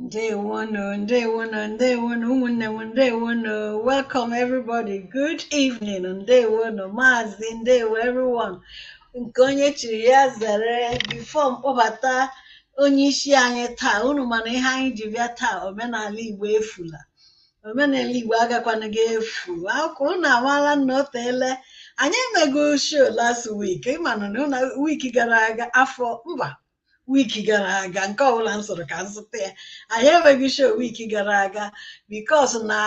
Ndewonu, ndewonu, ndewonu, ụmụnne m ndewonu. Welcome everybody. Good evening, ndewonu, maazị, ndewo everyone. Nke onye chiri ya zere before m kpọbata onye isi anyị taa unu manụ ihe anyị ji bịa taa omenala Igbo efula omenala Igbo agakwana ga-efu ọ kwa unu amaala na o teele anyị emego show last week ị manụ na week gara aga afọ mba week gara aga nke ọbụla m soro ka m zụta ya anyị enweghị show week gara aga because na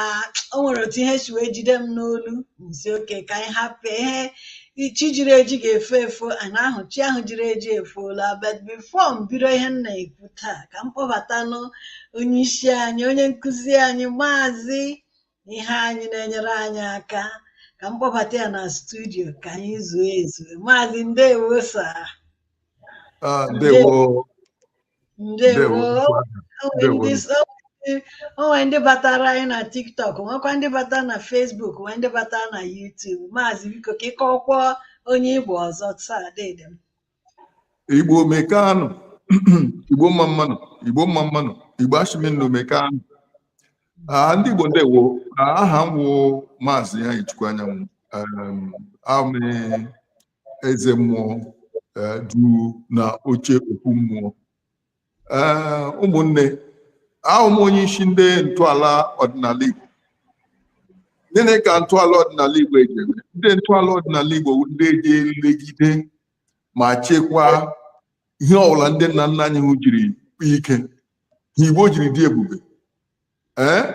o nwere otu ihe si wee jide m n'olu m sị okay ka anyị hapụ ihe chi jiri eji ga-efo efo ana ahụ chi ahụ jiri eji efoola but before m bido ihe m na-ekwu taa ka m kpọbatanụ onye isi anyị onye nkụzi anyị maazị Iheanyị na-enyere anyị aka ka m kpọbata ya na studio ka anyị zuo ezu maazị ndewo sa Ah, ndewo o nwe ndị batara anyị na TikTok nwekwa ndị batara na Facebook nwee ndị batara na YouTube maazị biko ka ị kọọkwa onye ị bụ ọzọ taa dede m igbo mekanụ igbo mma mmanụ igbo mma mmanụ igbo a shị m unu mekanụ ndị igbo ndewo aha m wụ maazị Iheanyịchukwu Anyanwụ eze mmụọ eh, dụ na oche okwu mmụọ eh, ụmụnne a wụ m onye isi ndị ntọala ọdịnala Igbo gịnị ka ntọala ọdịnala Igbo eji eme ndị ntọala ọdịnala Igbo ndị eji elegide ma chekwaa ihe ọbụla ndị nna nna anyị ha jiri kpaa ike ha Igbo jiri dị ebube ee eh,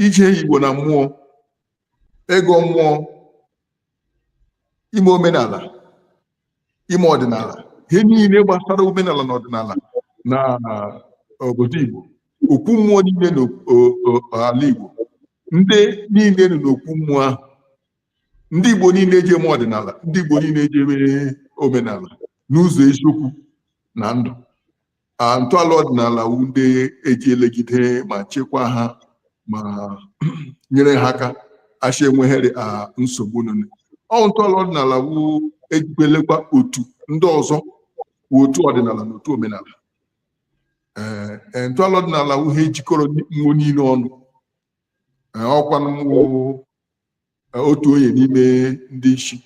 ije Igbo na mmụọ ịgọ mmụọ ime omenala ime ọdịnala ihe niile gbasara omenala na ọdịnala na obodo Igbo okwu mmụọ niile n'ala Igbo ndị niile nọ n'okwu mmụọ ahụ ndị Igbo niile eji eme ọdịnala ndị Igbo niile eji eme omenala n'ụzọ eziokwu na ndụ a ntọala ọdịnala wu ndị eji elegide ma chekwa ha ma nyere ha aka a sị enweghịrị a nsogbu nọ na- ọ ntọala ọdịnala wu ejikwa elekwa otu ndị ọzọ otu ọdịnala na otu omenala ee ee, ntọala ọdịnala wu ihe jikọrọ nwo niile ọnụ Ee, ọ kwanụ m wụ otu onye n'ime ndị isi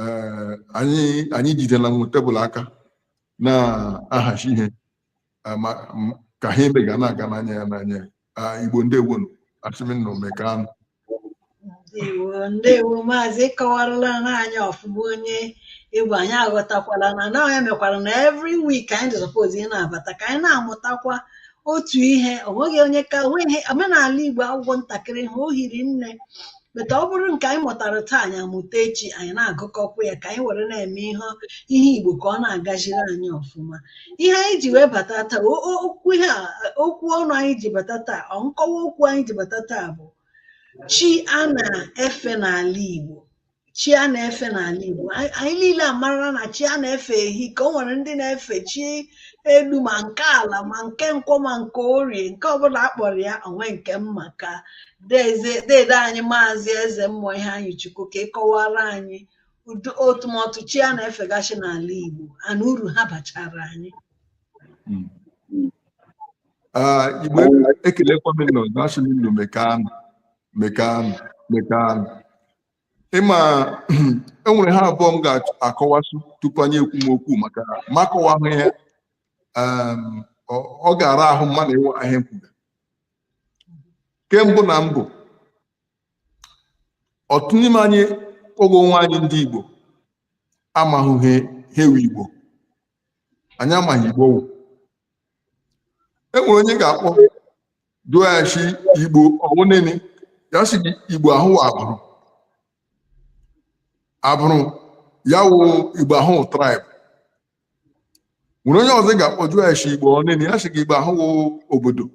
eh, anyị anyị jidela m tebụl aka na-ahazi ihe eh, ma m- ka ha eme ga na-aga n'anya ya n'anya ya Ah, igbo ndewonu asị m unu emekanụ ndewo ndewo maazị ị kọwaralanụ anyị ọfụma onye ị bụ anyị aghọtakwala na na ọ nya mekwara na every week anyị dị suppose ị na-abata ka anyị na-amụtakwa otu ihe o nweghị onye ka o nweghị omenala Igbo agwụ agwụ ntakịrị ha o hiri nne but ọ bụrụ nke anyị mụtara taa anyị amụta echi anyị na-agụkọkwa ya ka anyị were na-eme ihe ihe Igbo ka ọ na-agaziri anyị ọfụma ihe anyị ji wee bata taa o- o- okwu ihe a okwu ọnụ anyị ji bata taa ọ nkọwa okwu anyị ji bata taa bụ chi a na-efe n'ala Igbo chi a na-efe n'ala Igbo anyị niile amarala na chi a na-efe ehika o nwere ndị na-efe chi elu ma nke ala ma nke nkwọ ma nke orie nke ọbụla akpọrọ ya onwe nke mma ka dede anyị maazị eze mmụọ Iheanyịchukwu ka ị kọwara anyị ụdị atụmatụ chi a na-efegasị n'ala Igbo and uru ha bachara anyị hmm. ah, Igbo ekelekwa m nụ asị m unu mekanụ mekanụ mekanụ ị ma enwere ihe abụọ m ga-akọwasụ tupu anyị ekwume okwu maka m akọwahụ ya um, ọ ga-ara ahụ mmadụ ịma ihe a m kwuga nke mbụ na mbụ ọtụtụ n'ime anyị kpọga onwe anyị ndị Igbo amaghị ihe wụ Igbo anyị amaghị Igbo wụ enwere onye ga-akpọ jụa sị igbo ọ wụ nịnị ya sị gị igbo ahụ wụ agbụrụ agbụrụ ya wụ igbo ahụ wụ tribe nwere onye ọzọ ị ga-akpọ jụa sị igbo ọ nịnị ya sị gị igbo ahụ wụ obodo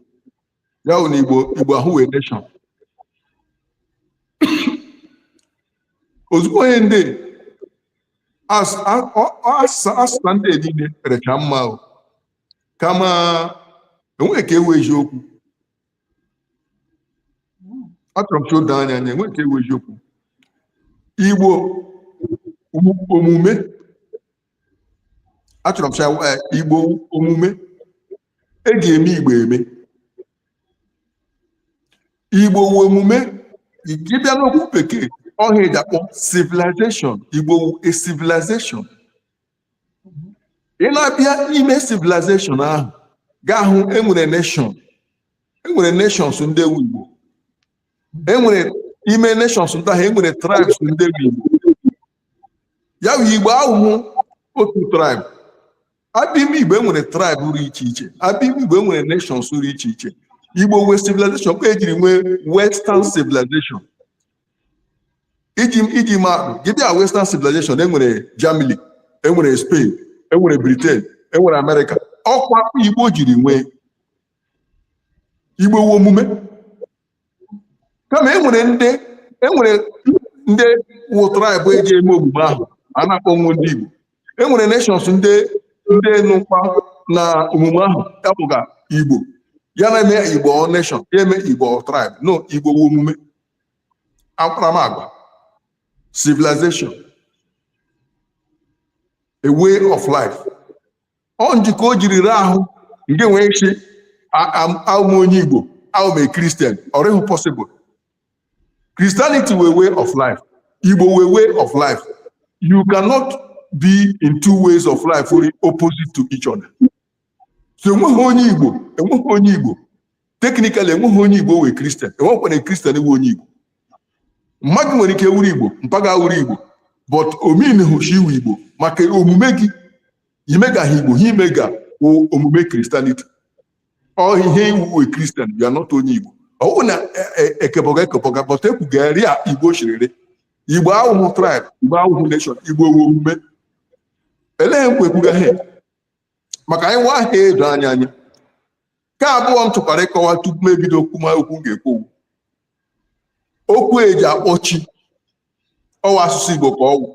ya wụ na igbo igbo ahụ wụ a nation ozugbo onye ndị as- a- ọ- ọ- ọsịsa ọsịsa ndị a niile rịcha mma o kama enweghị nke wụ eziokwu achọrọ m ka o doo anyị anya enweghị nke wụ eziokwu igbo wụ omume achọrọ m sị eh, igbo wu omume e ga-eme igbo eme igbo wu omume ị bịa n'okwu bekee ọ ihe eji akpọ civilization igbo wu a civilization ị na-abịa n'ime civilization ahụ ị ga-ahụ enwere nation enwere nations ndị wu igbo enwere ime nations ndị ahụ enwere tribes ndị wu igbo ya wụ igbo awụhụ otu tribe abịa ime igbo enwere tribe rụ iche iche abịa ime igbo enwere nations rụ iche iche igbo wụ civilization ka ejiri nwee western civilization iji iji maatụ gị bịa western civilization enwere germany enwere spain enwere britain enwere amerịka ọkwa ka igbo jiri nwee igbo wụ omume kama e nwere ndị e nwere ndị wụ tribe eji eme omume ahụ a na-akpọ nwa ndị Igbo e nwere nations ndị ndị nọkwa na omume ahụ akpọga Igbo ya na-eme Igbo nation ya eme Igbo tribe no Igbo wụ omume akparamagwa civilization a way of life ọ njikọ o jiri rịa ahụ gị nwee ịsị awụ m onye igbo awụ m a christian ọ rịhụ possible christianity wụ a way of life igbo wụ a way of life you cannot be in two ways of life only opposite to each other so enweghị onye igbo enweghị onye igbo technically enweghị onye igbo wụ christian enwekwana christian wụ onye igbo mma gị nwere ike wụrụ igbo mpa gị awụrụ igbo but ọ meanhụ shi ị wụ igbo maka omume gị imegaghị igbo ha imega omume christianity ọ ihe ị wụ christian you are not onye igbo ọ wụ na ekebọga e, e ekebọga but ekwuga rịa igbo shiri rị igbo awụhụ tribe igbo awụhụ nation igbo wụ omume elee nkwa ekwuga ha maka anyị nwa ihe a edo anyị anya nke abụọ m chọkwara ịkọwa tupu m ebido okwu ma okwu m ga-ekwu okwu eji akpọ chi ọ wụ asụsụ Igbo ka ọwụ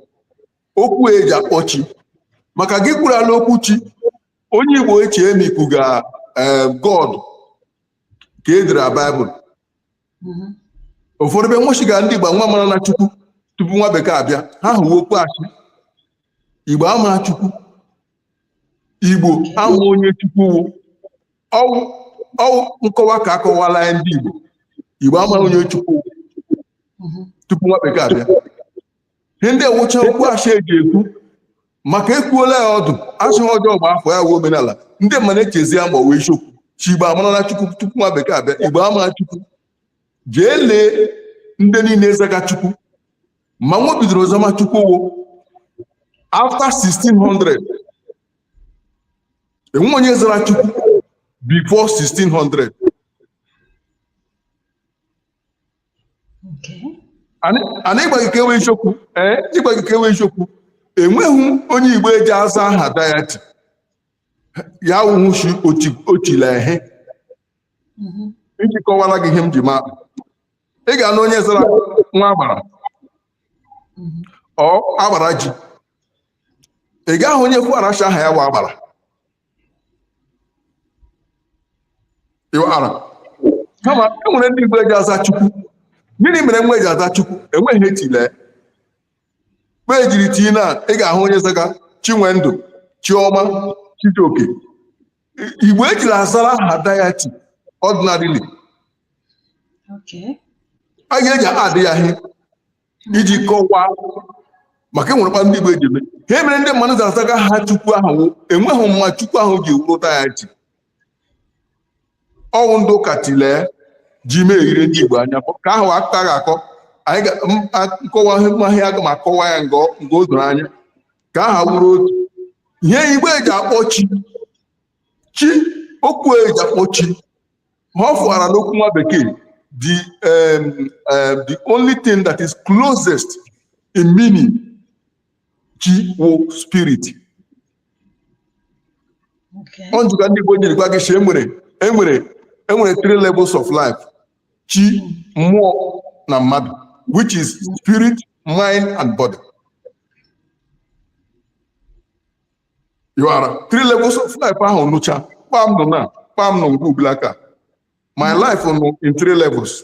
okwu eji akpọ chi maka gị kwurala okwu chi onye Igbo echee ma i kwuga eh, God ke e dere Baịbụl mm-hmm. ụfọdụ be nwo shiga ndị Igbo nwa mara na Chukwu tupu nwa bekee abịa ihe ahụ wụ okwu asị Igbo ama Chukwu igbo ama onye chukwu ọwụ ọwụ nkọwa ka akọwala ya ndị igbo igbo ama onye chukwu tupu nwa bekee abịa ihe ndị a wụcha okwu ashị eji ekwu maka ekwuola ya ọdụ asị ọjọọ gbaa afọ ya wee omenala ndị mmadụ echezia ma ọ wụ eziokwu shi igbo amara na chukwu tupu nwa bekee abịa igbo ama chukwu jee lee ndị niile zaga chukwu ma nwa bidoro zama chukwu wụ after 1600 enwe onye zara chukwu before 1600 ana ịgwa gị ke wụ eziokwu ee ịgwa gị ke wụ eziokwu enweghị onye igbo eji aza aha deity ya wụhụ shi ochila ehe iji kọwara gị ihe m ji ma ị ga-anụ onye zara nwa agbara ọ agbara ji ị ga-ahụ onye kwu aracha aha ya wụ agbara ịwara kama e nwere ndị igbo eji aza chukwu gịnị mere nwa eji aza chukwu enweghị etile mgbe ejiri tii na ị ga-ahụ onye zaga chinwendụ chioma chijioke igbo ejiri azara aha deity ordinarily anyị eji adị ya ihe iji kọwaa maka enwerekwa ndị igbo eji eme ihe mere ndị mmadụ ji azaga aha chukwu ahụ enweghị mma chukwu ahụ ji wụrụ deity ọ wụ ndị ụka tilee ji mee ire ndị igbo anya ka ahụ akụkọ ga-akọ anyị nkọwa mahịa aga m akọwa ya nke o doro anya ka aha wụrụ otu ihe igbo eji akpọ chi chi okwu eji akpọ chi ha fụara n'okwu nwa bekee the um, um, the only thing that is closest in meaning chi wụ spirit Okay. ọ njika ndị igbo jiri gwa gị shị enwere enwere enwere three levels of life chi mmụọ na mmadụ which is spirit mind and body ịwara three levels of life ahụ nọcha kpam nọ na kpam nọ nke ubila aka my life nọ in three levels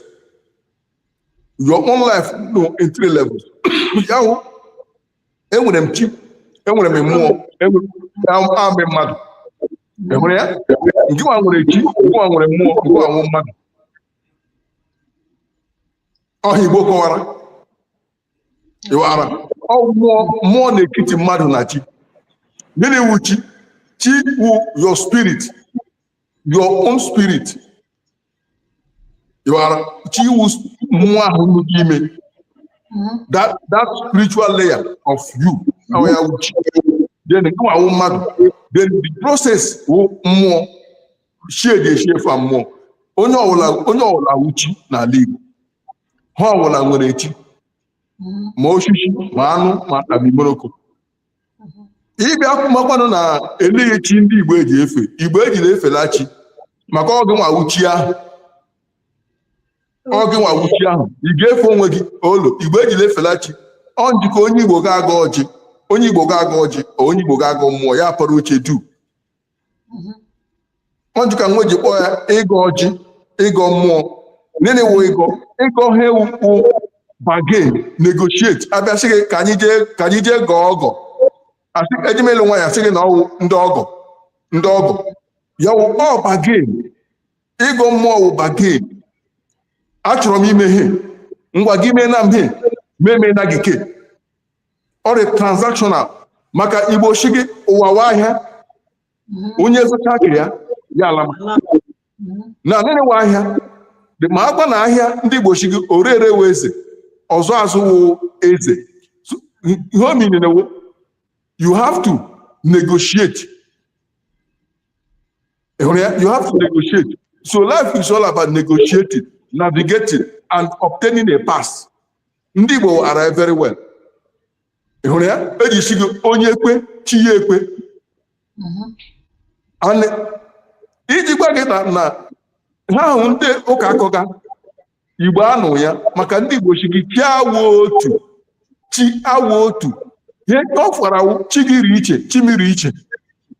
your own life nọ in three levels ahụ enwere m chi enwere m mmụọ awụ m mmadụ enwere ya ngị nwa nwere chi ngị nwa nwere mmụọ ngị nwa wụ mmadụ ọ ihe igbo kọwara ịwara mmụọ mmụọ n'ekiti mmadụ na chi gịnị wụ chi chi wụ your spirit your own spirit ịwara chi wụ mmụọ ahụ nọ gị ime that that spiritual layer of you ahụ ya wụ chi then gị nwa wụ mmadụ then the process wụ mmụọ shie dị eshie fa mmụọ onye ọwụla onye ọwụla wụ chi n'ala Igbo ihe ọwụla nwere chi ma osisi ma anụ ma abimoroko ị bịa kwumakwanụ na eleghị chi ndị igbo eji efe igbo ejila efela chi maka ọ gị nwa wụ chi ahụ ọ gị nwa wụ chi ahụ ị ga-efe onwe gị olo igbo ejila efela chi ọ njika onye igbo ga-agọ ọjị onye igbo ga-agọ ọjị onye igbo ga-agọ mmụọ ya apara oche duu mhm. ọ nji ka nwe ji kpọọ ya ịgọ ọjị ịgọ mmụọ nene wụ ịgọ ịgọ ha wụ to bargain negotiate abịa sị gị ka anyị jee ka anyị jee gọọ ọgọ asị eje m ịlụ nwaanyị sị gị na ọwụ ndị ọgọ ndị ọgọ ya wụ ọ bargain ịgọ mmụọ wụ bargain achọrọ m ime ihe ngwa gị mee na m he mee mee na gị ke ọ rị transactional maka igbo sị gị ụwa wụ ahịa onye zụcha nke ya ya ala ma na nene wụ ahịa dị mma agba na ahịa ndị igbo sị gị ore ere wụ eze ọzụ azụ wụ eze So, ihe ọ mean na wụ you have to negotiate Ị hụrụ ya? you have to negotiate so life is all about negotiating navigating and obtaining a pass ndị Igbo maara very well ị hụrụ ya eji sị gị onye kwe chi ya ekwe mm-hmm. iji gwa gị na na ihe ahụ ndị ụka akọga igbo anụ ya maka ndị igbo sị gị chi awụ otu chi awụ otu ihe ọ fara wụ chi gị rị iche chi m rị iche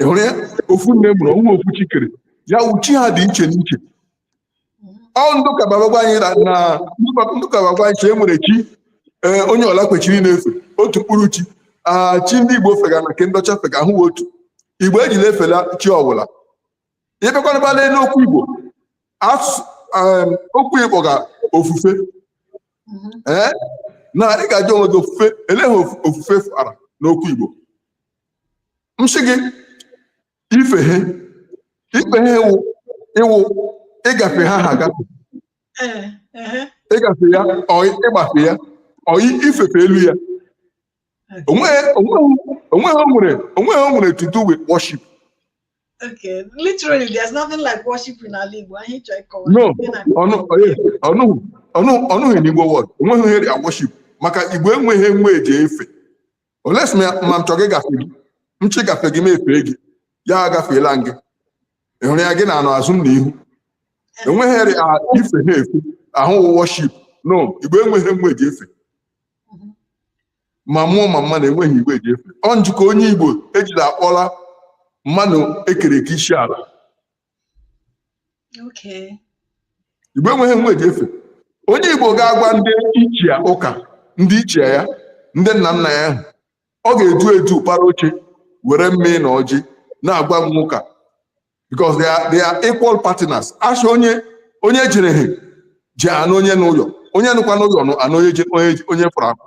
ị hụrụ ya ofu nne mụrụ ọ wụ ofu chi kere ya wụ chi ha dị iche n'iche ọ ndị ụka bịa agwa anyị na na ndị ụka bịa agwa anyị sị e nwere chi ee, onye ọwụla kwesịrị na-efe otu mkpụrụ chi a chi ndị igbo fega na nke ndị ọcha fega awụ otu igbo ejila efela chi ọwụla ị bịakwana bala n'okwu igbo asụsụ em, okwu igbo ga ofufe ee na ị ga-ajụ onwe gị ofufe elee ihe ofu- ofufe fara n'okwu igbo m sị gị ife ihe ife ihe ịwụ ịwụ ịgafe ihe ahụ agafe Ee, ehe, ịgafe ya ọ ịgbafe ya ọ i- ifefe elu ya onweghị onweghị- onweghị o nwere onweghị o nwere to do with worship okay. Literally, there's nothing like worship in our league. Why he try call? no ọnụ onye ọnụ ọnụ ọnụghị n'igbo word onweghị ihe dị a worship maka igbo enweghị ihe nwe ji efe unless ma m chọrọ ịgafe gị m chọ ịgafe gị m efee gị ya agafeela m gị ị hụrụ ya gị na anọ azụ m na ihu enweghị ihe rị a ife ihe efe awụ worship no igbo enweghị ihe nwe ji efe ma mmụọ ma mmadụ enweghị ihe nwe ji efe ọ nji ka onye igbo ejila akpọla mmadụ ekere eke isi ala igbo enweghị ihe nwe ji efe onye igbo ga-agwa ndị ichie ụka ndị ichie ya ndị nna nna ya ahụ ọ ga-edu edu para oche were mmịị na ọjị na-agwa nwe ụka because they are, they are equal partners asị onye onye jere ha ji anụ onye n'ụlọ onye nọkwa n'ụlọ anụ onye fụrụ akụ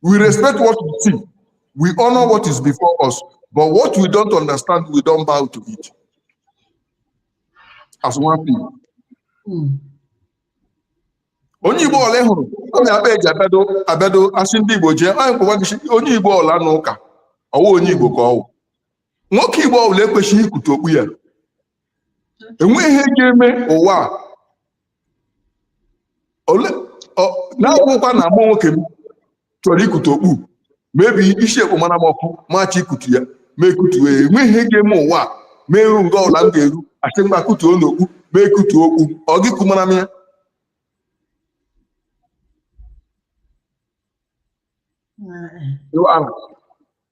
We respect what we see. We honor what is before us. But what we don't understand, we don't bow to it. As one thing. Hmm. onye igbo ọla hụrụ ọ na-akpa eji abịado abịado asị ndị igbo jee anyị kpọwa gị onye igbo ọla n'ụka ọwụ onye igbo ka ọwụ nwoke igbo ọbụla ekwechighị ikute okpu ya enweghị ihe ga-eme ụwa na-agwụkwa na mụ nwoke m chọrọ ikutu okpu maybe isi ekpomara m ọkụ m achọọ ikutu ya m ekutuo ya enweghị ihe ga-eme ụwa m eru nga ọla m ga-eru asị mgba kutuo n'okpu m ekutuo okpu ọ gị kumara m ya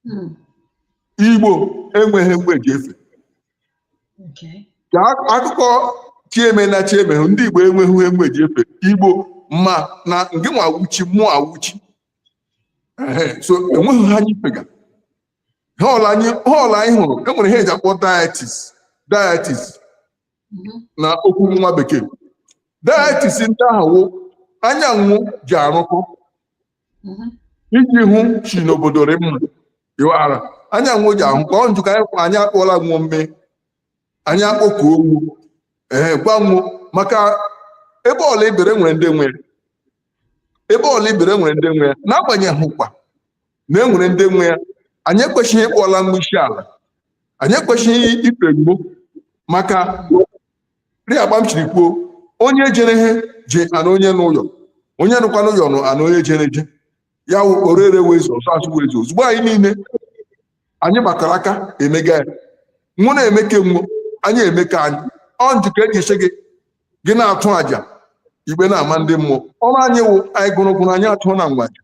Hmm. igbo enweghị ihe nwo ji efe Okay. ka ak- akụkọ chi eme na chi emehụ ndị igbo enweghị ihe nwo ji efe igbo ma na gị nwa wụ chi mụwa wụ chi Ehe, so enweghị ihe anyị fega ha ọla anyị ha ọla anyị hụrụ enwere ihe eji akpọ deities deities Mhm. na okwu nwa bekee deities ndị ahụ wụ anyị na nwo ji arụkọ iji hụ sị na obodo rị mma ịghọara anyị na nwo ji ahụ ka ọ njụ ka anyị kwa anyị akpọla nwo mme anyị akpọkuo nwo ee gwa nwo maka ebe ọla ibere nwere ndị nwe ebe ọla ibere nwere ndị nwe n'agbanyeghị kwa na e nwere ndị nwe ya anyị ekwesịghị ịkpọla nwo isi ala anyị ekwesịghị ife nwo maka ri agba m chiri kwuo onye jere ihe ji ana onye n'ụyọ onye nọkwa n'ụyọ nụ ana onye jere ije ya wụ ore ere wụ eze ọzụ azụ wụ eze ozugbo anyị niile anyị gbakọrọ aka emega ya nwo na-eme ke nwo anyị eme ke anyị ọ ntị ka eji asị gị gị na-atụ àjà ikpe na-ama ndị mmụọ ọrụ anyị wụ anyị gụrụ gụrụ anyị atụọna nwo àjà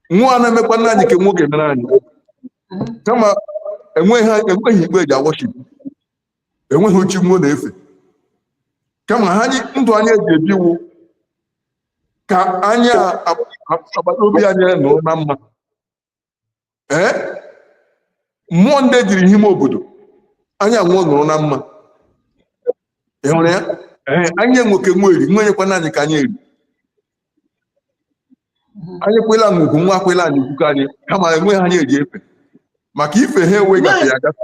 nwo ana-emekwana anyị ke nwo ga-emere anyị kama enweghị enweghị igbo eji a worship enweghị chi nwo na-efe kama ha anyị ndụ anyị eji ebi wụ ka anyị a- a- agbata obi anyị nọ na mma ee mmụọ ndị jiri ihe ime obodo anyị na nwo nọrọ na mma ị hụrụ ya ee anyị enye ke nwo eri nwo enyekwana anyị ke anyị eri anyị kwala nwo ugwu nwo akwala anyị ugwu ke anyị kama enweghị ihe anyị eji efe maka ife ha enweghị ya gafe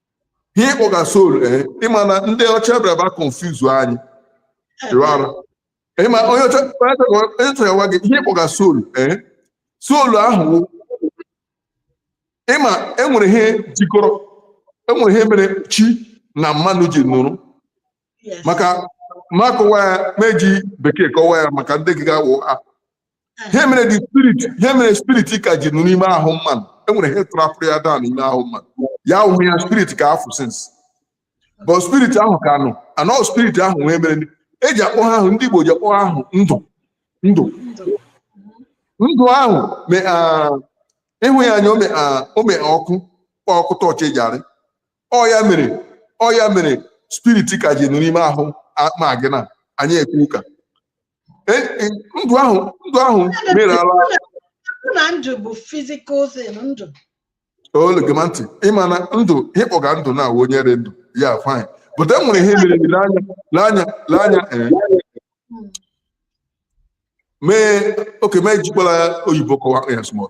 ihe ịkpọga soul ee eh, ịma na ndị ọcha bịara bịa confuse anyị rụọ arụ ịma onye ọcha chọrọ gwa gị ihe ịkpọga soul ee eh, soul ahụ ịma enwere ihe jikọrọ enwere ihe mere chi na mmanụ ji nọrọ maka m akọwa ya m eji bekee kọwa ya maka ndị gị ga-awụ ha ihe mere the spirit ihe mere spirit ka ji nọ n'ime ahụ mmadụ enwere ihe trapụrụ ya daa n'ime ahụ mmadụ ya awụhụ ya spirit ka afụ since but spirit ahụ ka nọ anọ spirit ahụ wụ ihe mere eji akpọ ihe ahụ ndị Igbo ji akpọ ihe ahụ ndụ ndụ ndụ ahụ ịhụ ya anya ome ọkụ kpọ ọkụ tọọchị eji arị ọ ya mere ọ ya mere spirit ka ji nọ n'ime ahụ a- ma gị na anyị ekwu ụka E- e- ndụ ahụ ndụ ahụ mere ala Mụ na ndụ bụ physical thing ndụ olegema ntị ịma na ndụ ịkpọga ndụ na awụ onye dị ndụ ya fine but e nwere ihe mere lee anya lee anya lee anya ee Mm. mee okay m ejikwala oyibo kọwa ya small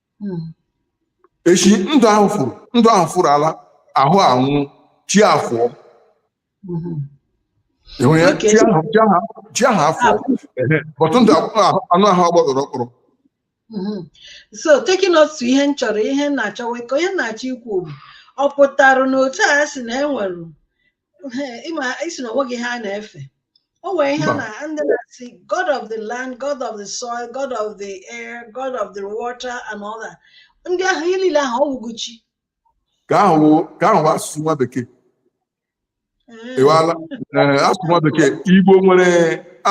eshi ndụ ahụ furu ndụ ahụ furu ala ahụ anwụ chi afụọ ịhụ ya Okay. chi ahụ- chi ahụ- chi ahụ afụọ Ehe. but ndụ ahụ- anụ ahụ agbọdọrọ ọkpọrọ Mhm. so taking us to ihe m chọrọ ihe m na-achọ ịkọ ihe m na-achọ ikwu bụ ọ pụtara na otu a sị na enwere ịma ị sị na onweghị ihe a na-efe o nwere ihe na ndị na-asị god of the land god of the soil god of the air god of the water and all that ndị ahụ ihe niile ahụ ọ wụghị chi ka ahụ ka ahụ asụsụ nwa bekee ịwala asụsụ nwa bekee igbo nwere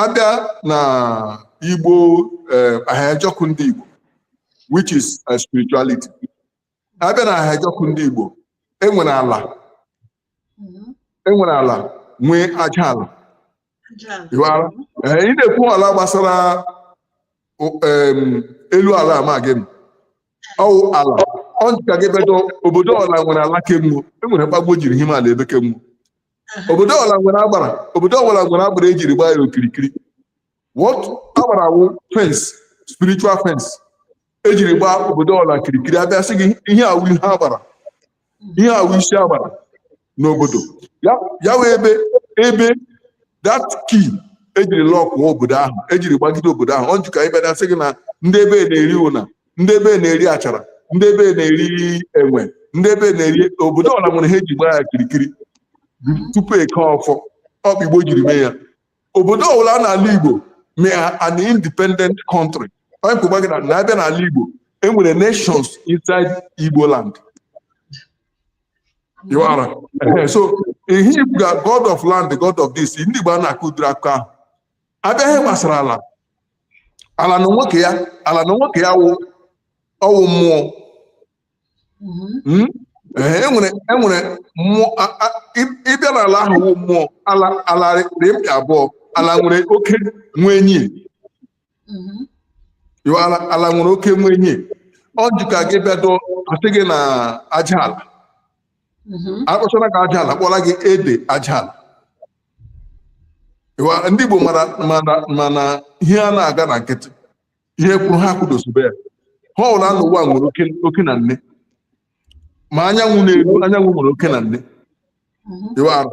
abịa na igbo ahịajọkụ ndị igbo which is spirituality abịa na ahịajọkụ ndị Igbo enwere ala enwere ala nwee aja ala ịghọtara ee ị na-ekwu ala gbasara o- em, elu ala amaghị m ọ wụ ala ọ dịka gị bedo obodo ọbụla nwere ala kemgbe enwere mkpagbu jiri hime ala ebe kemgbe obodo ọbụla nwere agbara obodo ọbụla nwere agbara ejiri gbaa ya okirikiri what agbara wụ fence spiritual fence ejiri gbaa obodo ọbụla okirikiri abịa sị gị ihe awụ ihe agbara ihe awụ isi agbara n'obodo ya wee ebe ebe that key ejiri lọkụọ obodo ahụ ejiri gbagide obodo ahụ ọ dị ka ịbịa sị gị na ndị ebe na-eri ụna ndị ebe na-eri achara ndị ebe na-eri enwe ndị ebe na-eri obodo ọbụla nwere ihe eji gbaa ya okirikiri tupu eke ọfọ ọkpa igbo jiri mee ya obodo ọbụla n'ala Igbo mee an independent country onye kwụgba gị na abịa n'ala Igbo enwere nations inside Igbo land ịwala so ihe Igbo ga god of land god of this ndị Igbo a na-akọ ụdịrị akụkọ ahụ abịa ihe gbasara ala ala na nwoke ya ala na nwoke ya wụ ọwụ mmụọ hmm? enwere e enwere mmụọ ịbịa n'ala ahụ wụ mmụọ ala ala dị mkpa abụọ ala nwere oke nwee nyie ala nwere oke nwee nyie ọ dịka gị bịado asị gị na aja ala mm-hmm. akpọchara gị aja ala kpọla gị ede aja ala ndị Igbo ma na ihe a na-aga na nkịtị ihe kwụrụ ihe akwụdosibe ya ihe ọwụla n'ụwa nwere oke oke na nne ma anyanwụ na-eru anyanwụ nwere oke na nne ịwara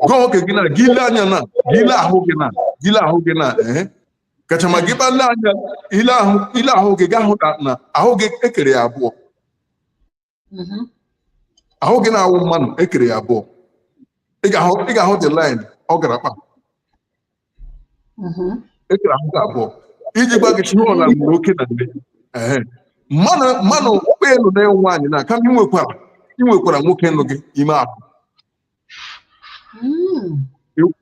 gị wụ nwoke gị na gị ile anya na gị ile ahụ gị na gị ile ahụ gị na ehe kacha ma gị kpale anya ile ahụ ile ahụ gị ga-ahụ na na ahụ gị ekere ya abụọ mm-hmm. ahụ gị na-awụ mmanụ ekere ya abụọ ị ga-ahụ the line ọ gara kpa mm-hmm. ekere ahụ gị abụọ iji gwa gị ihe ọla nwere oke na nne mmanụ mmanụ kpa ị nọ na ị wụ nwaanyị na kama inwekwara inwekwara nwoke nọ gị ime ahụ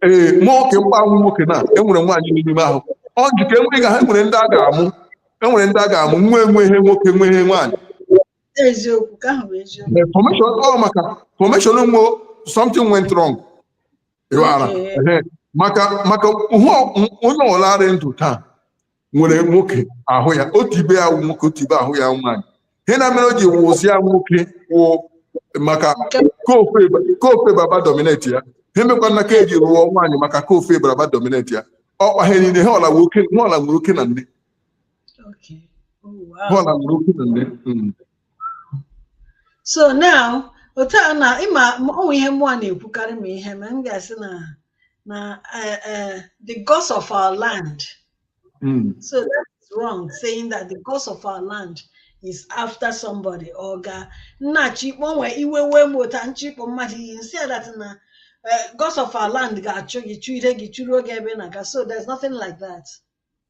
ee mm. mụ nke m kpa m wụ nwoke na enwere nwaanyị n'ime ahụ ọ njikọ enwere ga ha enwere ndị a ga-amụ enwere ndị a ga-amụ nwee ihe nwoke nwee ihe nwaanyị eziokwu ka ahụ bụ eziokwu The formation ọ maka formation ụmụ something went wrong ịghara Okay. Ehe. maka maka hụ onye ọla rị ndụ taa nwere nwoke ahụ ya otu ibe ya wụ nwoke otu ibe ahụ ya wụ nwaanyị ihe na mere o ji wụzie nwoke wụ maka kofe kofe baba dominate ya ihe mekwa nna ka eji rụọ nwaanyị maka kofe baba dominate ya ọ kpa ha niile ihe ọla nwoke ihe ọla nwere oke na nne Okay. Oh, wow. ihe ọla nwere oke na nne. so now otu a na ịma ọ wụ ihe mụ na-ekwukarị ma ihe ma m ga-asị na na eh, eh, the gods of our land Mm. so that is wrong saying that the gods of our land is after somebody or ga nna chikpo nwee iwe wee m ụta nchikpo mmadụ iyi nsị that na eh, gods of our land ga-achụ gị chụire gị chụruo gị ebe ị na-aga so there's nothing like that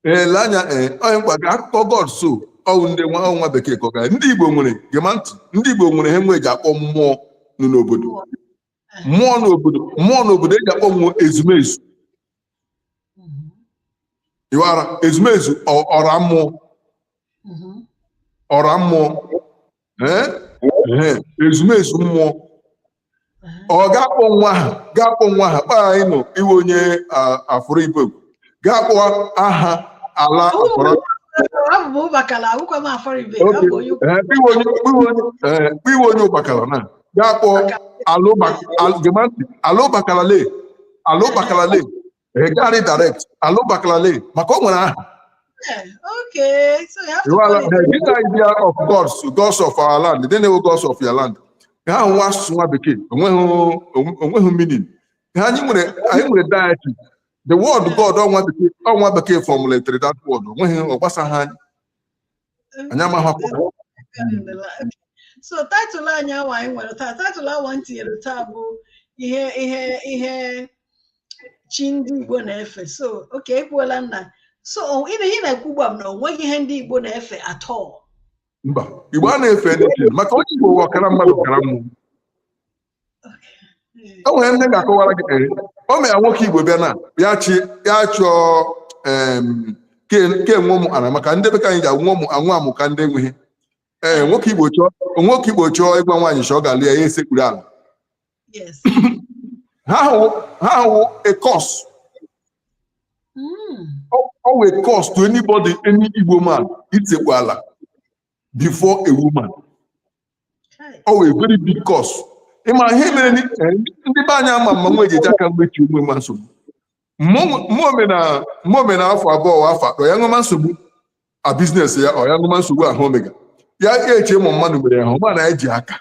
ee lee anya ee onye mkpa ga akụkọ god so ọwụ ndị nwa ọwụ nwa bekee kọga ndị igbo nwere gema ntị ndị igbo nwere ihe nwe eji akpọ mmụọ nọ n'obodo mmụọ n'obodo mmụọ n'obodo eji akpọ mmụọ ezumezu iwara ezumezu ọ- ọra mmụọ ọra mmụọ ezumezu mmụọ ọ ga-akpọ nwa aha ga-akpọ nwa aha kpaa anyị nọ ị wụ onye afụrụ ibe ga-akpọ aha ala akpọrọ ị wụ onye Ụbakala na ga-akpọ ala Ụbakala ala Ụbakala Egari direct Alo Bakalale maka o nwere aha Okay, so you have to You are call like, it. this idea of gods, gods of our land. They know gods of your land. Ha ahụ wụ asụsụ nwa bekee onweghị onweghị meaning. Ha anyị nwere anyị nwere deity. The word God ọ nwa bekee ọ nwa bekee formulated that word onweghị ọ gbasaghị anyị. anyị amaghị so title anyị awa anyị nwere taa title awa m tinyere taa bụ ihe ihe ihe chi ndị Igbo na-efe so okay ekwuola nna so ihe ị na-ekwu ugbu a na o nweghị ihe ndị Igbo na-efe at all mba Igbo anaghị efe maka onye Igbo wụ ọkara mmadụ ọkara mmụọ o nwere ndị ga-akọwara gị ee o mere nwoke igbo bịa na ya chi ya chọọ em, ke ke nwe ụmụ ana maka ndị bekee anyị ji anwụ ụmụ anwụ amụ ka ndị enweghị ee nwoke igbo chọọ nwoke igbo chọọ ịgwa nwaanyị sị ọ ga-alụ ya ya esekpuru ala Yes. ha hụ ha hụ a curse Mm. ọ wụ a curse to anybody any igbo man itekpu ala before a woman ọ wụ a very big curse ị ma ihe mere ni- eh, ndị be anyị ama mma nwa ejeje aka mgbechi onwe ma nsogbu ma o mena ma o mena afọ abụọ wa afọ atọ ya enwema nsogbu na business ya ọ ya enwema nsogbu ahụ o mega ya ya eche ma mmadụ mere ya hụ ma na ya ji aka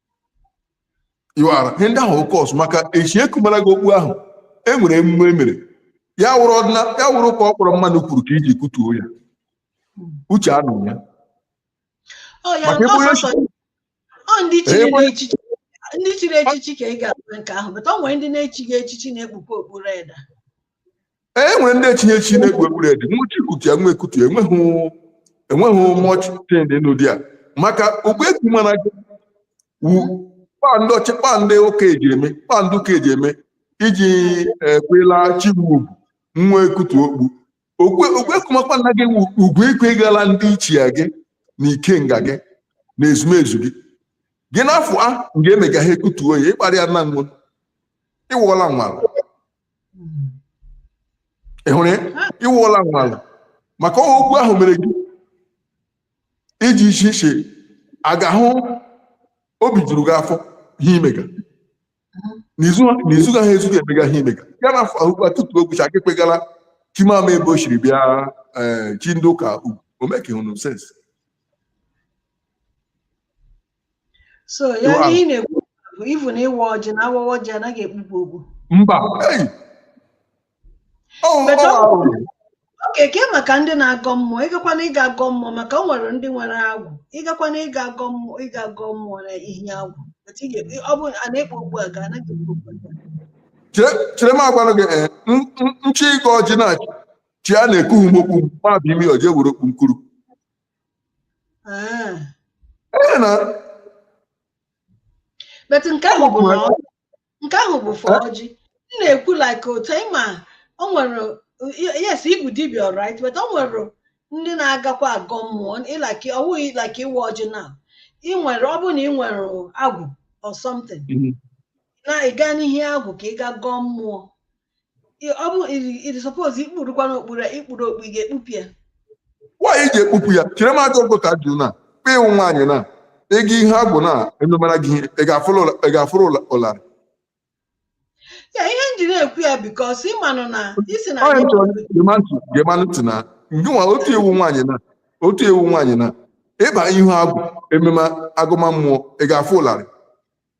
iwara ihe ndị ahụ ọ curse maka echi e kumara gị okpu ahụ e nwere emume e mere ya wụrụ ọdịna ya wụrụ ka ọ kpọrọ mmadụ kwuru ka iji kutuo ya uche anụ ya oh, maka ebe onye ndị chiri echichi ka ị ga-abụ nke ahụ but o nwere ndị na-echighị echichi na-ekpukwa okpu red e nwere ndị echighị echichi na-ekpu okpu red nwụchi kutu ya nwa ekutu ya enweghị enweghị much thing dị n'ụdị a maka okpu egwu mana gị wu kpaa ndị ọchị kpaa ndị ụka eji eme kpaa ndị ụka eji eme iji ekwela chi wu ugwu nwa ekutu okpu okwe okwe kumakwa nna gị wu ugwu ikwe gala ndị ichie gị na ikenga gị na ezumezu gị gị n'afọ a nga emega ha ekutuo ya ịkparịa nna nwa ị nwụọla nwala ị hụrụ ya ị nwụọla nwala maka ọ wụ okwu ahụ mere gị iji iche iche a ga-ahụ obi juru gị afọ ihe i mega n'izu n'izu gaghị ezu gị emega ihe i mega ya n'afọ ahụkwa tutu o gwụcha gị kpegara chi m amaghị ebe o siri bịa ee chi ndị ụka ugwu o mekehụnụ sense so ya Iwa- ihe ị na-ekwu bụ ivu na ịwa ọjị na awawa ọjị anaghị ekpukwa okpu mba Hey! Ọ ọ But ọ- arụ. okay kee maka ndị na-agọ mmụọ ịgakwana ịga agọ mmụọ maka o nwere ndị nwere agwụ ịgakwana ịga agọ mmụọ ịga agọ mmụọ na ihu agwụ But ị ga- ọ bụ a na-ekpu okpu aga anaghị ekpu okpu aga Chere chere m agwanụ gị eh, n- n- nchi ịgọ ọjị na chi a na-ekpu m okpu ma ọ bụ imi ọjị were okpu m kpuru ah. but nke ahụ bụ nke ahụ bụ for ọjị m na-ekwu like otu anyị ma o nwere yes ị wụ dibia alright but o nwere ndị na-agakwa agọ mmụọ like ọwụghị like ịwa ọjị na ị nwere ọ bụ na ị nwere agwụ or something mm-hmm. na ịga n'ihu agwụ ka ị ga gọọ mmụọ nwaanyị ji ekpupu ya chere m ajọ nkụta jụ na kpe ị wụ nwaanyị na ịga ihu agwụ na ememara gị ị ga-afụrụ ụlarị ya ihe m ji na-ekwu ya because ịmanụ na ị sị na onye chọrọ gemanụ ntị na ngịnwa otu ị wụ nwaanyị na otu ị wụ nwaanyị na ịba ihu agwụ emema agọma mmụọ ị ga-afụ ụlarị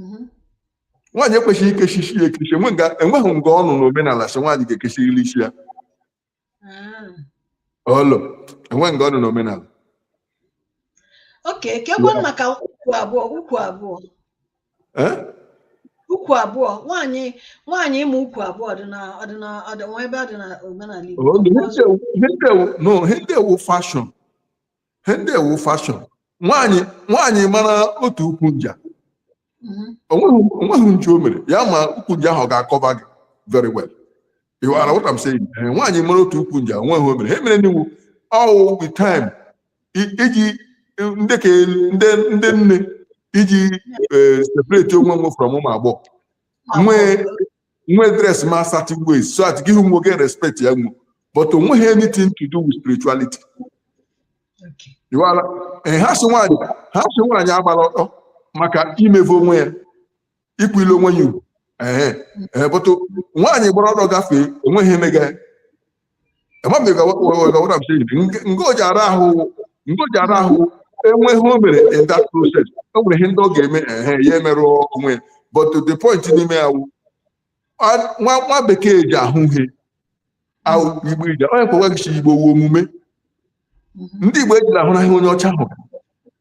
mhm. nwaanyị ekwesighị ikechi isi ya ekechi o nweghị nga ọ nọ na omenala sị nwaanyị ga-ekechirili isi ya ah. olo o nweghị nga ọ nọ na omenala okay keekwa maka ukwu abụọ ukwu abụọ eh? ukwu abụọ nwaanyị nwaanyị ịma ukwu abụọ ọdịnala ebe ọ dị na omenala Igbo he ndị a wụ fashion nwaanyị nwaanyị mara otu ukwu nja mhm. o nweghị ihe o mere ya ma ukwu nja ahụ ga-akọba gị very well you hear what I'm saying eh, nwaanyị mara otu ukwu nja o nweghị he o mere he mereni wụ ọwụ the time iji ndị ka ndị ndị nne iji eh, separate onwe nwe from ụmụ agbọghọ nwee nwe dress ma certain ways so that gị hụ nwe ị ga respect ya nwe but o nweghị anything to do with spirituality Okay. ịwala ee ha sị nwaanyị ha sị nwaanyị agbara ọtọ maka imevọ onwe ya ikwile onwe ya ugwu ee ee but nwaanyị gbara ọtọ gafee o nweghị he mega ya ngoji ara ahụ enweghị ihe o mere in that process o nwere ihe ndị ọ ga-eme ehe ya emerụ onwe but the point n'ime ya wụ nwa Bekee ji ahụ ihe ahụ Igbo ije onye kpọwa gị Igbo wụ omume ndị Igbo ejila ahụ n'ahịa onye ọcha hụrụ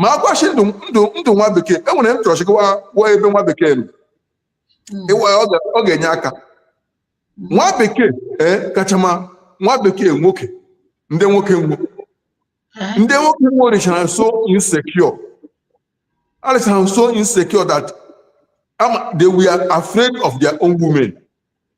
ma a gwachi ndụ ndụ ndụ nwa bekee e nwere m chọrọ chịkwa gwa ebe nwa bekee nọ hmm. ịwa ya ọ ga-enye aka hmm. nwa bekee ee kacha ma nwa bekee nwoke ndị nwoke nwo eh? ndị nwoke nwo rịchara so insecure a rịchara so insecure that they were afraid of their own women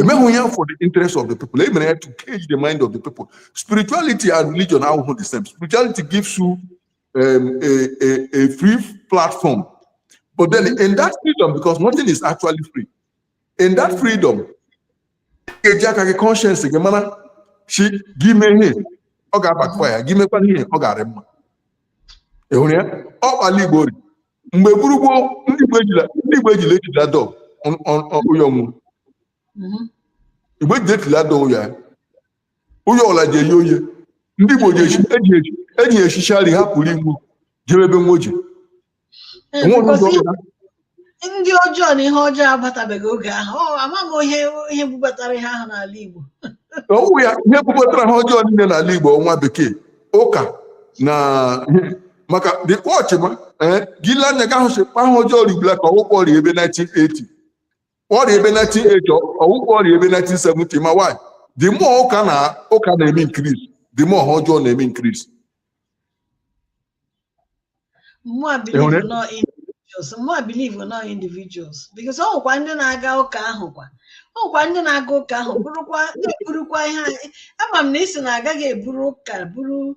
emeghị ya for the interest of the people e mere ya to cage the mind of the people spirituality and religion awụhụ the same spirituality gives you um, a, a, a free platform but then in that freedom because nothing is actually free in that freedom ị ga-eji aka gị conscience gị mara shị gị mee ihe ọ ga-abackfire gị mekwana ihe ọ ga-arị mma ị hụrụ ya ọ kpa ala igbo rị mgbe gburu gboo ndị Igbo ejila ndị Igbo ejila ejila door ụyọ nwụ mhm. Igbo ejila ejila door ụyọ ya ụyọ ọla ji eye oye ndị Igbo ji eji eji echichi arị ha pụrụ igbu jebe ebe nwoji ndị ọjọọ na ihe ọjọọ abatabeghị oge ahụ amaghị ihe ihe bubatara ihe ahụ n'ala Igbo ọ wụ ya ihe bubatara ihe ọjọọ niile n'ala Igbo wụ nwa bekee ụka na maka the watch ma ee gị lee anya ị ga-ahụ sị kpa ihe ọjọọ rị ugbula ka ọ wụ kpa ọ rị ebe 1980 ọ rị ebe 1980 ọ wụ kpa ọ rị ebe 1970 ma why the more ụka na ụka na-eme increase the more ihe ọjọọ na-eme increase Mụ a believe Ịhụrụ? na ọ individuals. Mụ a believe na ọ individuals. Because ọ nwekwa ndị na-aga ụka ahụ kwa. Ọ nwekwa ndị na-aga ụka ahụ bụrụkwa na-eburukwa ihe anyị. Ama m na ị sị na agaghị eburu ụka buru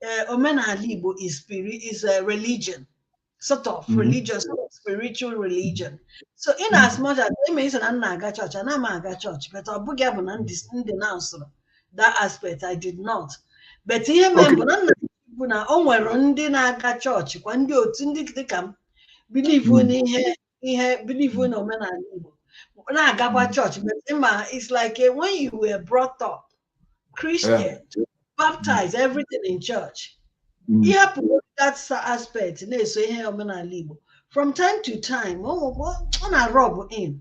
eh, omenala Igbo is spirit is a religion sort of mm-hmm. religious spiritual religion so in mm-hmm. as much as e mention na m na-aga chọọchị ana m aga chọọchị but ọ bụghị bụ na m denounce-ụrụ that aspect I did not but ihe mere bụ na nna bụ na o nwere ndị na-aga chọọchị kwa ndị otu ndị dịka m believe mm-hmm. n'ihe ihe believe na omenala Igbo na-agakwa hmm. chọọchị but ị ma it's like eh, when you were brought up Christian baptized everything in church hmm. ịhapụ that aspect na-eso ihe omenala Igbo from time to time ọ na-rub in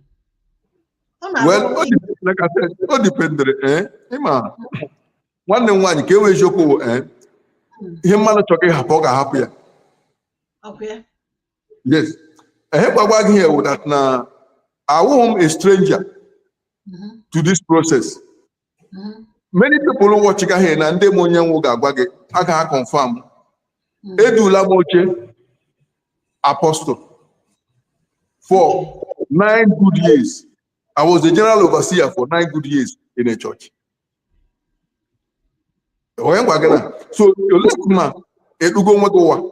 well o dependere eh, ịma nwanne m nwaanyị ka e kwue eziokwu eh, hmm. ihe mmadụ chọrọ ịhapụ ọ ga-ahapụ ya yes ihe m ga-agwa gị here wụ that na awụghị m a stranger Mhm. to this process Mhm. many people watch ga here na ndị ma onye m wụ ga-agwa gị aga ha confirm Mm. edula m oche apostle for nine good years i was the general overseer for nine good years in a church onye gwa gị na so olee ma edugo nwa gị ụwa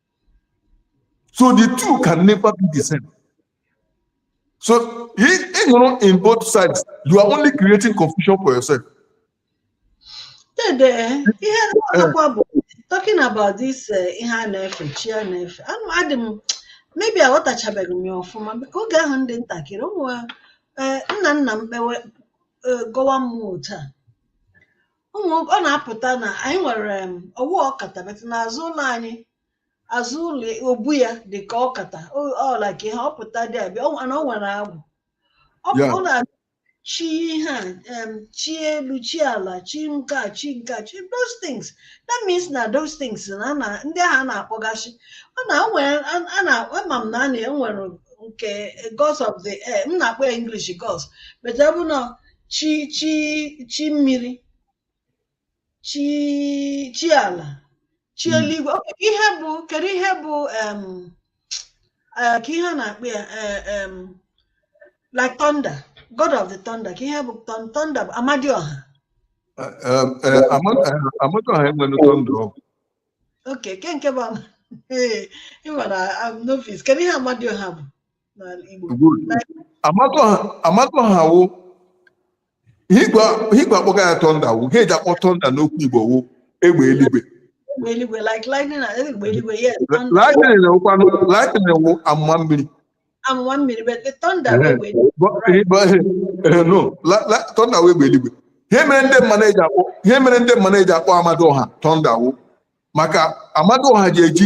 So the two can never be the same. So ị nọrọ in both sides, you are only creating confusion for yourself. Dede, talking about this uh, ihe a na-efe chi a na-efe adị m maybe aghọtachabeghị m ya ọfụma ka oge ahụ m dị ntakịrị ụmụ uh, nna nna m kpewe uh, gọwa mmụọ otu a ụmụ ọ na-apụta na anyị nwere em, ọ wụ ọkata but n'azụ ụlọ anyị azụ ụlọ obu ya dị ka ọkata o- ọ like ihe ọ pụta dibịa ọ na o nwere agwụ ọ bụ- Ya. ọ na chi ihe a em, chi elu chi ala chi nke a chi nke a chi those things that means na those things na a na- ndị ahụ a na-akpọgasị ọ na o nwere a- a na ama m na a na-enwere nke gods of the air m na-akpọ ya english gods but ọ bụ na chi chi chi mmiri chi chi ala chi hmm. eluigwe ihe bụ kedu ihe bụ eh, kee ihe a na-akpọ ya eh, like thunder god of the thunder kee ihe bụ thunder bụ amadioha eh, amadioha enwere thunder ọ bụ okay kee nke bụ I'm a novice kedu ihe amadioha bụ amadioha wụ ihe igwe akpọga ya thunder wụ ihe eji akpọ thunder n'okwu igbo wụ egbe eluigwe lightning kwanụ lightning wụ amụma mmiri amụma mmiri but the thunder wụ egbe eluigwe ihe mere ndị mmadụ eji akpọ ihe mere ndị mmadụ eji akpọ amadioha thunder wụ maka amadioha ji eji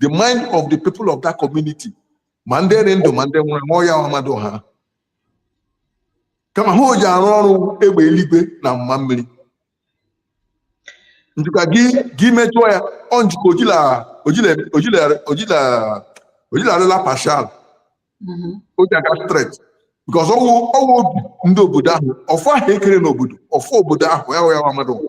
the mind of the people of that community ma ndị dị ndụ ma ndị nwụrụ anwụ ọ ya wụ amadioha kama ihe o ji arụ ọrụ egbe eluigwe na amụma mmiri njuka gị gị mejọọ ya ọ njuka ojila ojila ojila ojila ojila arịla partial mm-hmm. o ji aga straight because ọ wụ ọ wụ obi ndị obodo ahụ ọfọ ahụ ekere n'obodo ọfọ obodo ahụ ọ ya wụ amadioha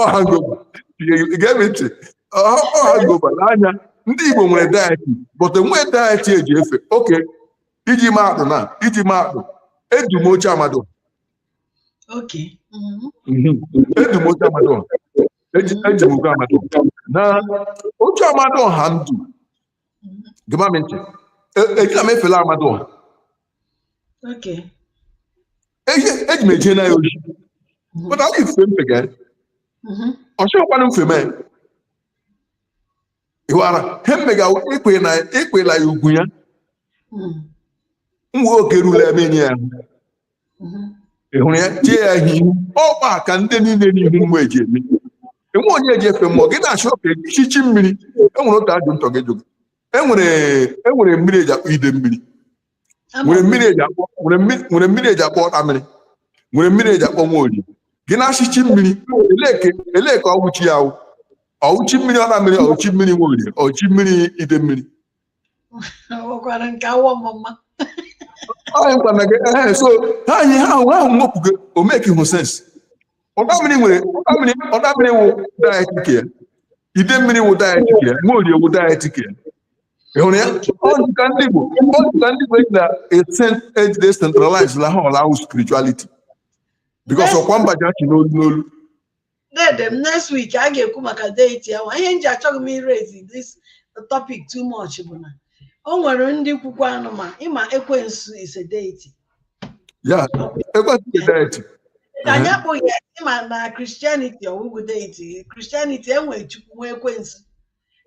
ọ hangover gee m ntị ọ hangover n'anya ndị igbo nwere deity but enwee deity eji efe okay iji maa atụ na iji maa atụ edo m oche amadioha Okay. Mhm. edo m oche amadioha eji eji m oche amadioha na oche amadioha ndụ gema m ntị ejila m efela amadioha Okay. Eji- eji m eje na ya ozi Mhm. but ọ dị mfe mfe ga Mhm. ọ chọkwanụ mfe mee ịwara he mmega ikwe na ikwela ya ugwu ya Mhm. nwa oge ruru m enye ya ị hụrụ ya tie ya ihe ihu ọkpa ka ndị niile n'ihu mmụọ eji eme enwe onye eji efe mmụọ gị na-achọ ka ị sị chi mmiri enwere otu ajụ ntọ gị jụ gị enwere enwere mmiri eji akpọ ide mmiri nwere mmiri eji akpọ nwere mmiri nwere mmiri eji akpọ ọta mmiri nwere mmiri eji akpọ nwaorie gị na-asị chi mmiri elee ke elee ke ọ wụ chi ya awụ ọ wụ chi mmiri ọta mmiri ọ wụ chi mmiri nwaorie ọ wụ chi mmiri ide mmiri so ha anyị ha ahụ ahụ nwepụgo o makehụ sense ọta mmiri nwere ọta mmiri ọta mmiri wụ deity ke ya ide mmiri wụ deity ke ya nwaorie wụ deity ke ya ị hụrụ ya ọdịka ndị Igbo ọdịka ndị Igbo eji na eji decentralize-la ha ọla awụ spirituality because ọkwa mba ji achị n'olu n'olu Dede m next week a ga-ekwu maka deity ahụ ihe m ji achọghị m iraise this topic too much bụ na o nwere ndị kwukwa anụ ma ịma ekwensu is a deity yeah ekwensu is a deity ka anyị akpụghị ya ịma na Christianity ọ wụghụ deity Christianity enwe chukwu nwee ekwensu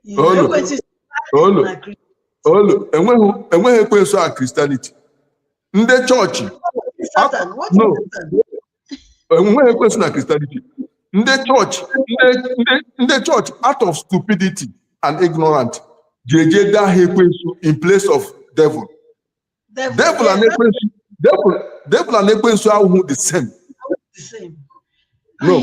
Ihe Olu. ekwensu is Olu. na Christianity. olu enweghị enweghị ekwensu na Christianity ndị chọọchị Satan, what is No. Satan? enweghị ekwensu na Christianity ndị chọọchị ndị chọọchị out of stupidity and ignorant ji eje ede aha ekwensu in place of devil devil and ekwensu devil devil and ekwensu awụhụ the same no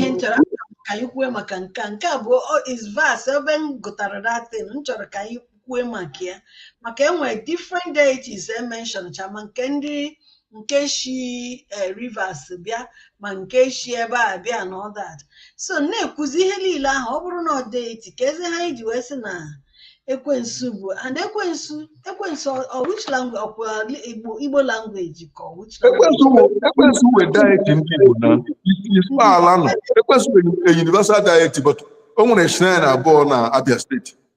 ka anyị kwuo maka nke a nke a bụ is verse ebe m gụtara that thing m chọrọ ka anyị kwue maka ya maka enwere different deities e mention-cha ma nke ndị nke shi eh, rivers bịa ma nke shi ebe a bịa na all that so na-ekwuzi ihe niile ahụ ọ bụrụ na ọ deity keezi ha anyị ji wee sị na ekwensu bụ and ekwensu ekwensu ọ- ọ which language ọkwa igbo igbo language ka ọ which language ekwensu bụ ekwensu wụ deity ndị igbo na isi ala no ekwensu wụ a universal deity but o nwere shrine abụọ na abia steeti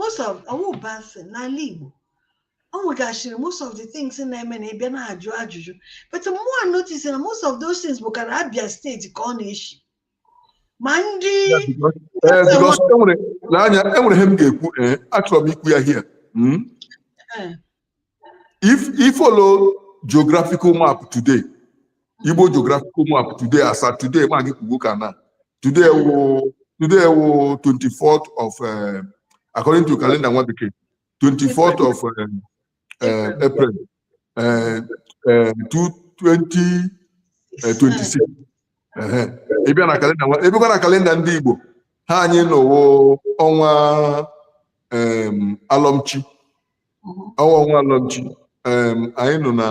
most of ọ wụ bad thing n'ala Igbo o nwegasịrị most of the things na-eme na ịbịa na-ajụ ajụjụ but mụa notice na most of those things bụkarị Abia steeti ka ọ na-eshi ma ndị ee because enwere n'anya enwere ihe m ga-ekwu ee achọrọ m ikwu ya here if you follow geographical map today igbo geographical map today as at today ma gị kwuo ka na today wụ today wụ 24th of uh, according to calendar nwa bekee 24th of uh, uh, april uh, uh, 2026 ị bịa na calendar nwa ị bịakwa na calendar ndị igbo ha anyị nọ wụ ọnwa um, alọmchi ọnwa ọnwa alọmchi em, anyị nọ na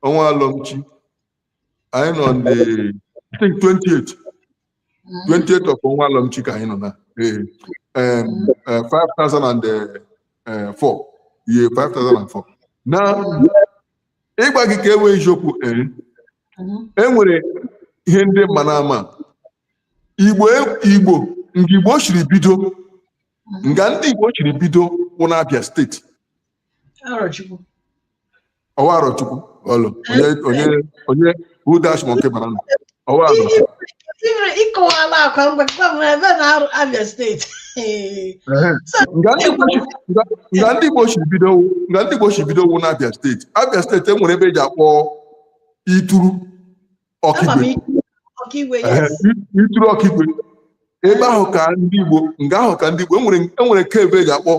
ọnwa alọmchi anyị nọ on the I think 28 28 of ọnwa alọmchi ka anyị nọ na ee em, eh, 5004 year 5004 na ịgwa gị ka e nwee eziokwu ee e nwere ihe ndị mma na ama igbo igbo nga Igbo chiri bido nga ndị Igbo chiri bido wụ n'Abia steeti ọwa Arọchukwu olee onye onye who dash monkey banana ọwa Arọchukwu ịkọwala akwa mgbe ebe na Abia steeti nga ndị Igbo chiri bido nga ndị Igbo chiri bido wụ n'Abia steeti Abia steeti enwere ebe eji akpọ Uturu Okigwe Uturu Okigwe ebe ahụ ka ndị Igbo nga ahụ ka ndị Igbo enwere cave eji akpọ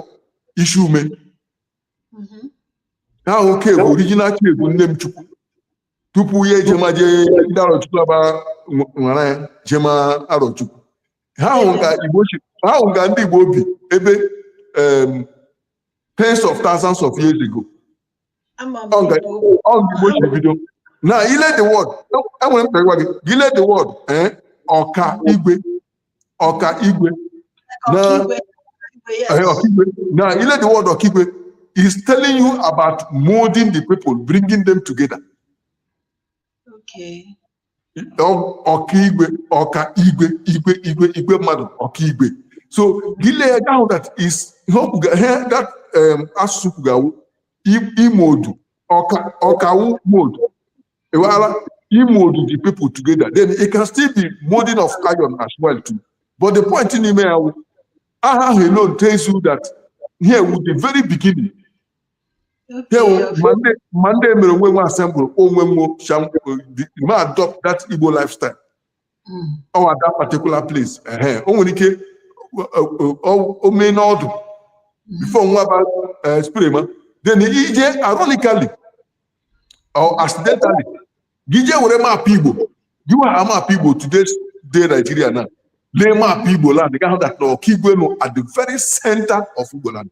Isiume mm-hmm. ha ahụ ka ebe original cave nne m chukwu tupu ya ejema jee ndị arọchukwu aba nwara ya jema arọchukwu ha ahụ ka ndị Igbo bi ebe tens of thousands of years ago bido now ị lee the word enwere m gwa gị ị lee the word eh, ọka igwe ọka igwe na eh, ọkaigwe now ị lee the word ọkaigwe is telling you about molding the people bringing them together ọkaigwe ọka igwe igwe igwe igwe mmadụ ọkaigwe so gị lee ya ị ga-ahụ that is ihe that um, asụsụ kwuga wụ ị mold ọka wụ mold ewara ị mold the people together then it can still be molding of iron as well too but the point n'ime ya wụ aha ahụ alone tells you that here wụ the very beginning ma ndị mere onwe nwe assemble onwe nwe ma adopt that Igbo lifestyle ọ hmm. that particular place o nwere ike o mee n'ọdụ hmm. before nwa ba eh, spread ma then ị jee ironically or accidentally gị jee were maapụ Igbo gị were maapụ Igbo today day Nigeria na lee maapụ Igbo land ị ga-ahụ that na Okigwe nọ at the very center of Igbo land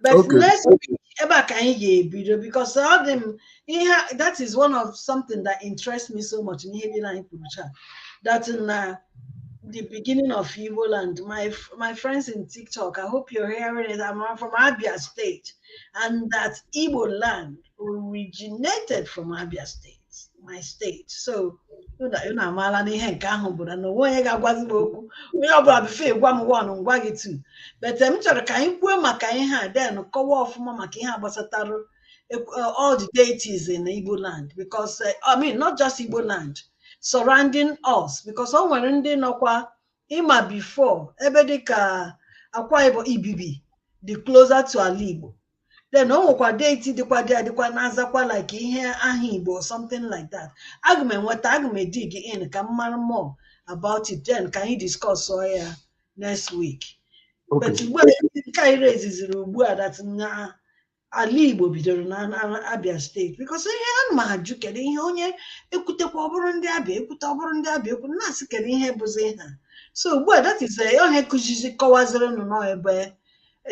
but Okay. next week ebe a ka anyị ga-ebido because ọ dị m ihe a- that is one of something that interests me so much n'ihe niile anyị kwuru taa that na the beginning of Igbo land my f- my friends in TikTok I hope you're hearing it I'm from Abia State and that Igbo land originated from Abia State my state so unu amaala na ihe nke ahụ bụ na o nwe onye ga-agwazi m okwu onye ọbụla before ị gwa m one m gwa gị two but m chọrọ ka anyị kwuo maka ihe a then kọwa ọfụma maka ihe a gbasatara eh, all the deities in Igbo land because eh, I mean not just Igbo land surrounding us because o nwere ndị nọkwa ị ma before ebe dịka Akwa Ibom Ibibio dị closer to ala Igbo then o nwekwa deity dịkwa there dịkwa na-azakwa like ihe aha igbo or something like that aga m enweta aga m dig in ka m mara more about it then ka anyị discuss ọ ya next week but Okay. ugbu a nke anyị reziziri ugbu a that na ala igbo bidoro na na Abia State because ihe a ma ajụ kedu ihe onye ekwutekwa ọ bụrụ ndị Abia ekwute ọ bụrụ ndị Abia ekwu na-asị kedu ihe bụzi ha so ugbu a that is eh, onye kụzizi kọwazirinụ n'ebe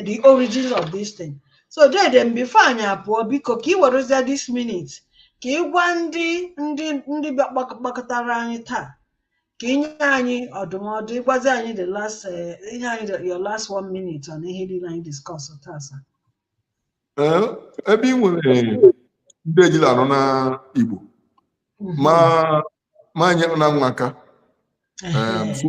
the origin of this thing so dede m before anyị apụọ biko ka i werezie this minute ka ị gwa ndị ndị ndị bịa gbak- gbakọtara anyị taa ka i nye anyị ọdụmọdụ ị gwazi anyị the last eh, i nye anyị the- your last one minute on ihe niile anyị discuss taa sir. Ee, ebe ị nwere ndị ejila anọ na Igbo Mhm. ma ma nye na nwa aka Ehe. um, so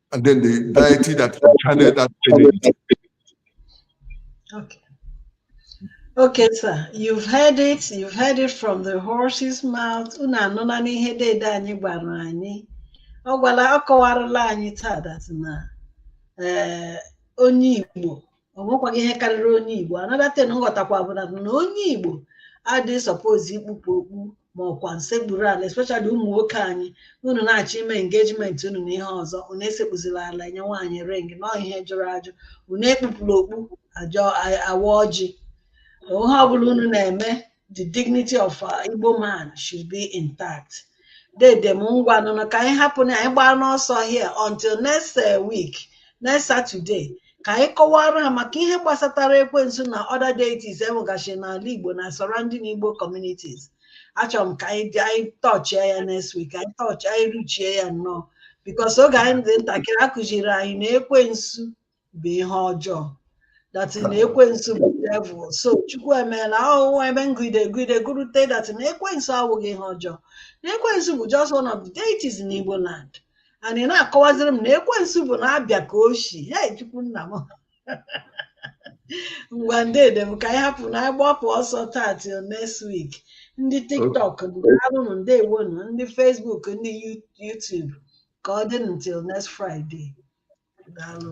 And then the deity that channeled that energy. Okay. Okay, sir. You've heard it. You've heard it from the horse's mouth. Unu anụla n'ihe dede anyị gwara anyị. Ọ gwara ọ kọwarala anyị taa that na eh, onye Igbo o nwekwaghị ihe karịrị onye igbo another thing m ghọtakwa bụ na na onye igbo adịghị suppose ikpupụ okpu ma ọkwa nsekpuru ala especially ụmụ nwoke anyị unu na-achọ ime engagement unu na ihe ọzọ unu esekpuzila ala enye nwaanyị ring na ọ ihe jụrụ ajụ unu ekpupụla okpu agọ a- awa ọjị ihe ọbụla unu na-eme the dignity of uh, Igbo man should be intact dede m ngwanụ nụ ka anyị hapụ na anyị gbaa n'ọsọ here until next uh, week next Saturday ka anyị kọwara ha maka ihe gbasatara ekwensu na other deities e nwegachi n'ala Igbo na surrounding Igbo communities achọrọ m ka anyị dị anyị tọchie ya next week anyị tọchie anyị ruchie ya nnọọ because oge anyị dị ntakịrị a kụziri anyị na ekwensu bụ ihe ọjọọ that na ekwensu bụ devil so chukwu emeela ahụhụ ebe m gụide gụide gụrute that na ekwensu awụghị ihe ọjọọ na ekwensu bụ just one of the deities in Igbo land and ị na-akọwaziri m na ekwensu bụ na-abịa ka oshi hei chukwu nna m ngwanụ dede m ka anyị hapụ na agbapụ ọsọ taa till next week ndị tiktok daalụnụ ndeewonụ ndị facebook ndị youtube ka ọ dị until next Friday daalụ